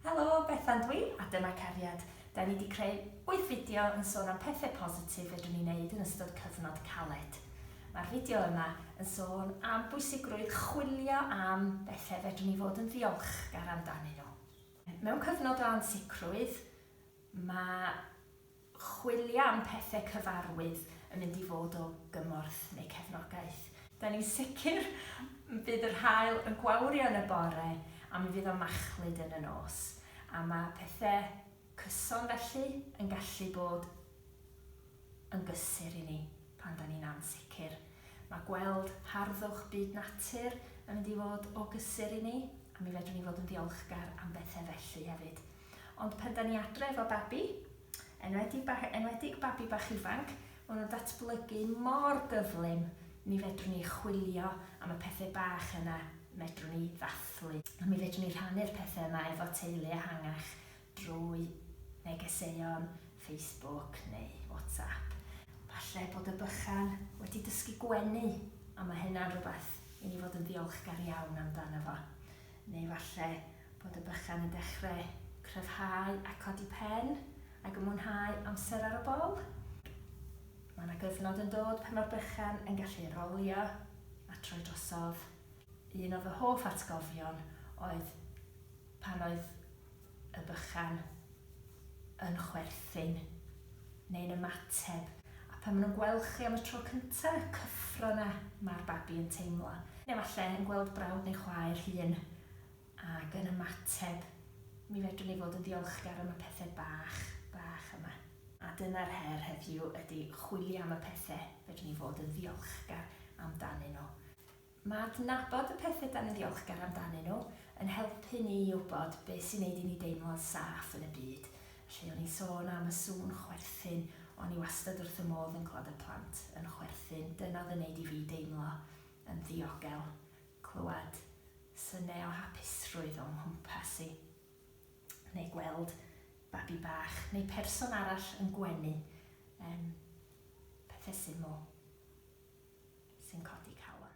Helo, Bethan dwi, a dyma Cariad. Da ni wedi creu wyth fideo yn sôn am pethau positif fedrwn ni wneud yn ystod cyfnod caled. Mae'r fideo yma yn sôn am bwysigrwydd chwilio am bethau fedrwn ni fod yn ddiolchgar amdanyn nhw. Mewn cyfnod o ansicrwydd, mae chwilio am pethe cyfarwydd yn mynd i fod o gymorth neu cefnogaeth. Da ni'n sicr bydd yr haul yn gwawrio yn y bore a mi fydd o'n machlud yn y nos, a ma' pethe cyson felly yn gallu bod yn gysur i ni pan da ni'n ansicr. Ma' gweld harddwch byd natur yn mynd i fod o gysur i ni a mi fedrwn ni fod yn ddiolchgar am bethe felly hefyd. Ond pan 'da ni adre efo babi, enwedig ba- enwedig babi bach ifanc, ma' nw'n datblygu mor gyflym, mi fedrwn ni chwilio am y pethe bach yna medrwn ni ddathlu, a mi fedrwn ni rhannu'r pethe yma efo teulu ehangach drwy negeseuon Facebook neu WhatsApp. Falle bod y bychan wedi dysgu gwenu, a ma' hynna'n rwbath i ni fod yn ddiolchgar iawn amdano fo. Neu falle bod y bychan yn dechre cryfhau a codi pen ag yn mwynhau amser ar y bol. Mae yna gyfnod yn dod pan mae'r bychan yn gallu rolio a troi drosodd. Un o fy hoff atgofion oedd pan oedd y bychan yn chwerthin neu'n ymateb a pan maen nhw'n gweld chi am y tro cyntaf, y cyffro yna mae'r babi yn teimlo. Neu falle yn gweld brawd neu chwaer hŷn Ac yn ymateb, mi fedrwn ni fod yn ddiolchgar am y pethe bach, bach yma. A dyna'r her heddiw ydi chwilio am y pethe fedrwn ni fod yn ddiolchgar amdanyn nhw. Mae adnabod y pethe 'dan ni'n ddiolchgar amdanyn nhw yn helpu ni i wbod be' sy'n neud i ni deimlo'n saff yn y byd. Felly, o'n i'n sôn am y sŵn chwerthin, o'n i wastad wrth fy modd yn clywed y plant yn chwerthin, dyna o'dd yn neud i fi deimlo yn ddiogel. clywed synau o hapusrwydd o'm nghwmpas i, neu gweld babi bach neu person arall yn gwenu, yym, pethe syml sy'n codi calon.